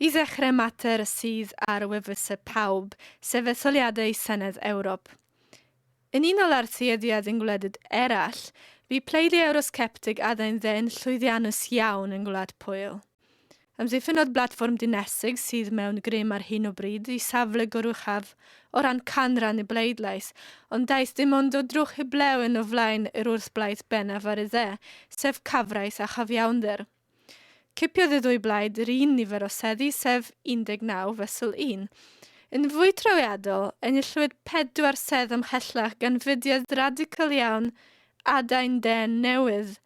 I ddechrau mater sydd ar wefusau pawb, sef etholiadau Senedd Ewrop. Yn unol â'r tueddiad yn gwledydd eraill, bu pleidie Ewrosceptig adain dde yn llwyddiannus iawn yn Gwlad Pwyl. Amddiffynnodd blatfform dinesig sydd mewn grym ar hyn o bryd i safle goruchaf o ran canran y bleidlais, ond daeth dim ond o drwch heblaw yn o flaen yr wrthblaid bennaf ar y dde, sef cyfraith a chyfiawnder. Cipiodd y ddwy blaid yr un nifer o seddi sef 19 fesul 1. Yn fwy trawiadol, enillwyd pedwar sedd ymhellach gan fudiad radical iawn Adain Dên Newydd.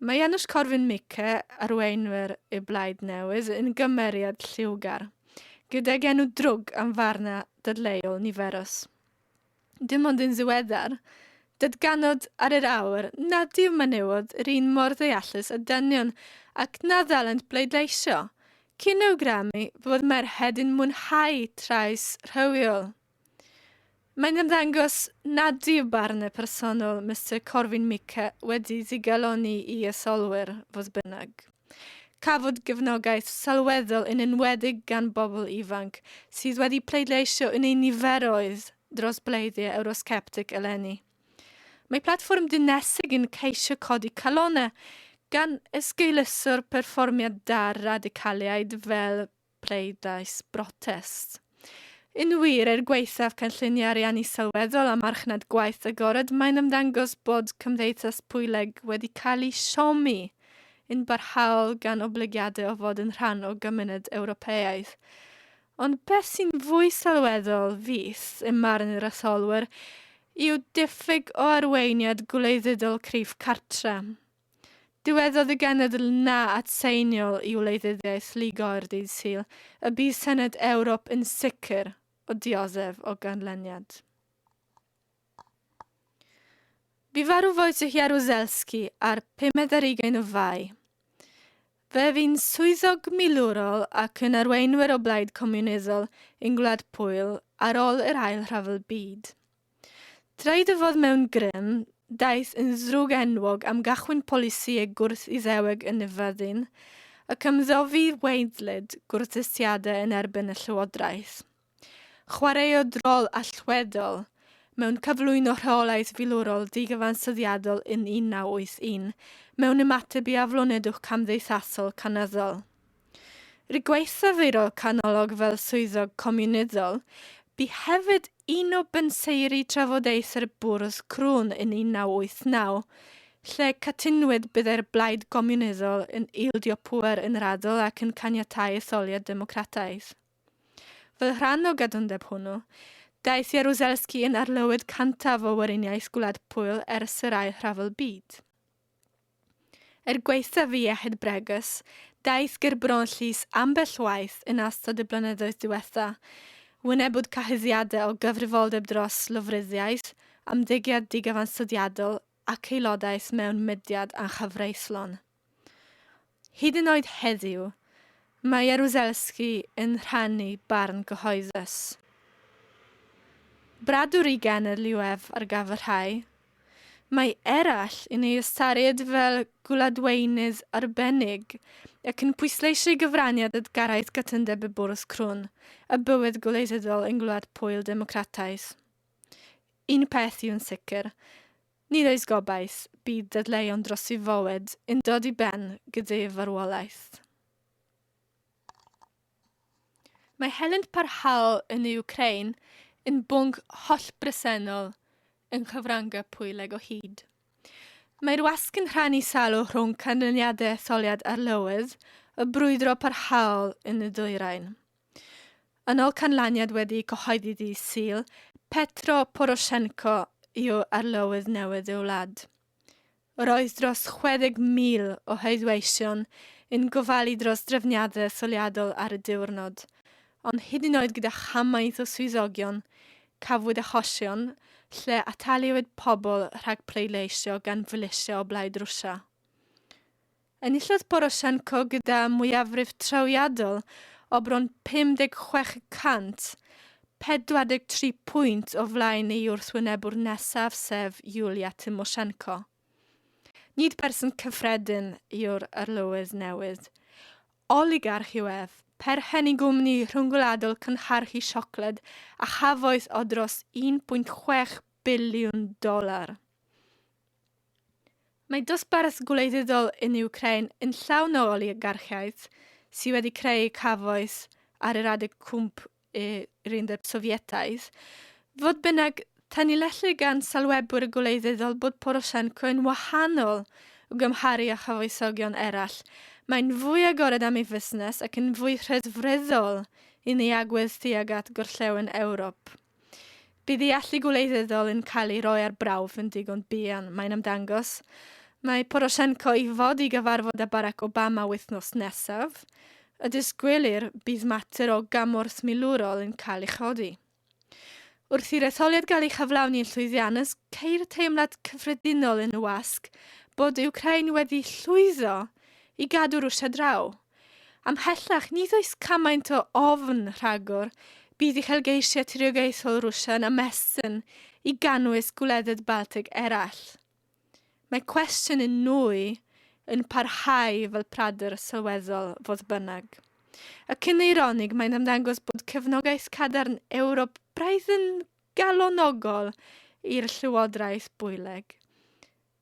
Mae Janusz Korwin-Mikke, arweinwyr y Blaid Newydd, yn gymeriad lliwgar, gydag enw drwg am farnau dadleuol niferus. dim ond yn ddiweddar, datganod ar yr awr nad yw menywod yr un mor ddeallus â dynion ac na ddylent bleidleisio, cyn awgrymu fod merched yn mwynhau trais rhywiol. Mae'n ymddangos nad yw barn y personol Mister Corwin Mikke wedi digalonni i arsylwyr, fodd bynnag. Cafwyd gefnogaeth sylweddol yn enwedig gan bobl ifanc sydd wedi pleidleisio yn eu niferoedd dros bleidiau Ewrosceptig eleni. Mae Platfform Dinesig yn ceisio codi calonnau gan esgeuluso'r perfformiad da'r radicaliaid fel pleidlais brotest. Yn wir, er gwaethaf cynlluniau ariannu sylweddol a marchnad gwaith agored, mae'n ymddangos bod Cymdeithas Pwyleg wedi cael ei siomi yn barhaol gan oblygiadau o fod yn rhan o gymuned Ewropeaidd. Ond beth sy'n fwy sylweddol, fis, ym marn yr etholwyr, yw diffyg o arweiniad gwleidyddol cryf cartre. Dywedodd y genedl na at seiniol i wleidyddiaeth Lloegr dydd Sul y bydd Senedd Ewrop yn sicr o dioddef o ganlyniad. Bu farw Wojciech Jaruzelski ar pumed ar ugain o Fai. Fe fu'n swyddog milwrol ac yn arweinwyr o blaid comiwnyddol yng Ngwlad Pwyl ar ôl yr Ail Rhyfel Byd. Traed y fod mewn grym, daeth yn ddrwg enwog am gachwyn polisïau gwrth-Iddeweg yn y fyddin, ac ymddofi weidlyd gwrthdystiadau yn erbyn y llywodraeth. Chwaraeodd rôl allweddol mewn cyflwyno rheolaeth filwrol digyfansoddiadol yn 1981 mewn ymateb i aflonydwch camddeithasol cynyddol. Rhy gweithafwyro canolog fel swyddog comiwnyddol, bu hefyd un o benseiri trafodaethau'r bwrdd crwn yn 1989, lle cytunwyd byddai'r Blaid Gomiwnyddol yn ildio pŵer yn raddol ac yn caniatáu etholiad democrataidd. Fel rhan o gadwndeb hwnnw, daeth Jaruzelski yn arlywydd cyntaf o Weriniaeth Gwlad Pwyl ers yr Ail Rhyfel Byd. Er gwaethaf ei iechyd bregus, daeth gerbron llys ambell waith yn astod y blynyddoedd diwetha'. Wynebwyd cyhuddiadau o gyfrifoldeb dros lofruddiaeth, ymddygiad digyfansydiadol ac aelodaeth mewn mudiad anghyfreithlon. Hyd yn oed heddiw, mae Jaruzelski yn rhannu barn gyhoeddus. Bradwr i Genedl-UF ar gaf y rhai. Mae eraill yn ei ystyried fel gwladweinydd arbennig ac yn pwysleisio'i gyfraniad at gyrraedd cytundeb y bwrdd crwn a bywyd gwleidyddol yng Ngwlad Pwyl Democrataidd. Un peth yw'n sicr, Nid oes gobaith, bydd dadleuon dros ei fywyd yn dod i ben gyda'u farwolaeth. Mae helynt parhaol yn y Wcrain yn bwnc hollbresennol yng nghyfryngau pwyleg o hyd. Mae'r wasg yn rhannu salwch rhwng canlyniadau etholiad Arlywydd y brwydro parhaol yn y dwyrain. Yn ol canlyniad wedi cyhoeddi ddydd Sul, Petro Poroshenko yw arlywydd newydd ei wlad. Roedd dros 60,000 o heddweision yn gofalu dros drefniadau etholiadol ar y diwrnod, ond hyd yn oed gyda chamaeth o swyddogion, cafwyd achosion lle ataliwyd pobl rhag pleidleisio gan filisia o blaid Rwsia. Enillodd Poroshenko gyda mwyafrif trawiadol o bron 56 y cant, 43 pwynt o flaen ei wrthwynebwr nesaf sef Yulia Tymoshenko. Nid berson cyffredin yw'r Arlywydd newydd. Oligarch yw ef, perchen i gwmni rhyngwladol cynhyrchu siocled a chafoeth o dros 1.6 biliwn dolar. Mae dosbarth gwleidyddol yn Wcráin yn llawn o oligarchiaid sydd wedi creu cafoes ar yr adeg cwmp yr Undeb Sofietaidd. Fodd bynnag, tanlinellir gan sylwebwyr gwleidyddol bod Poroshenko yn wahanol i'w gymharu â chyfoesogion eraill, mae'n fwy agored am ei fusnes ac yn fwy rhedfryddol yn ei agwedd tuag at Gorllewin Ewrop. Bydd y allu gwleidyddol yn cael ei roi ar brawf yn digon buan, mae'n ymddangos. Mae Poroshenko i fod i gyfarfod â Barack Obama wythnos nesaf. Y disgwylir bydd mater o gymorth milwrol yn cael ei chodi. Wrth i'r etholiad gael ei chyflawni'n llwyddiannus, ceir teimlad cyffredinol yn y wasg bod Ukraine wedi llwyddo i gadw Rwsia draw. Ymhellach, nid oes cymaint o ofn rhagor bydd uchelgeisiau tiriogaethol Rwsia yn ymestyn i gynnwys gwledydd Baltig eraill. Mae cwestiwn yn nwy yn parhau fel pradur sylweddol, fodd bynnag. Y cyn eironig, mae'n ymddangos bod cefnogaeth cadarn Ewrop braidd yn galonogol i'r llywodraeth bwyleg.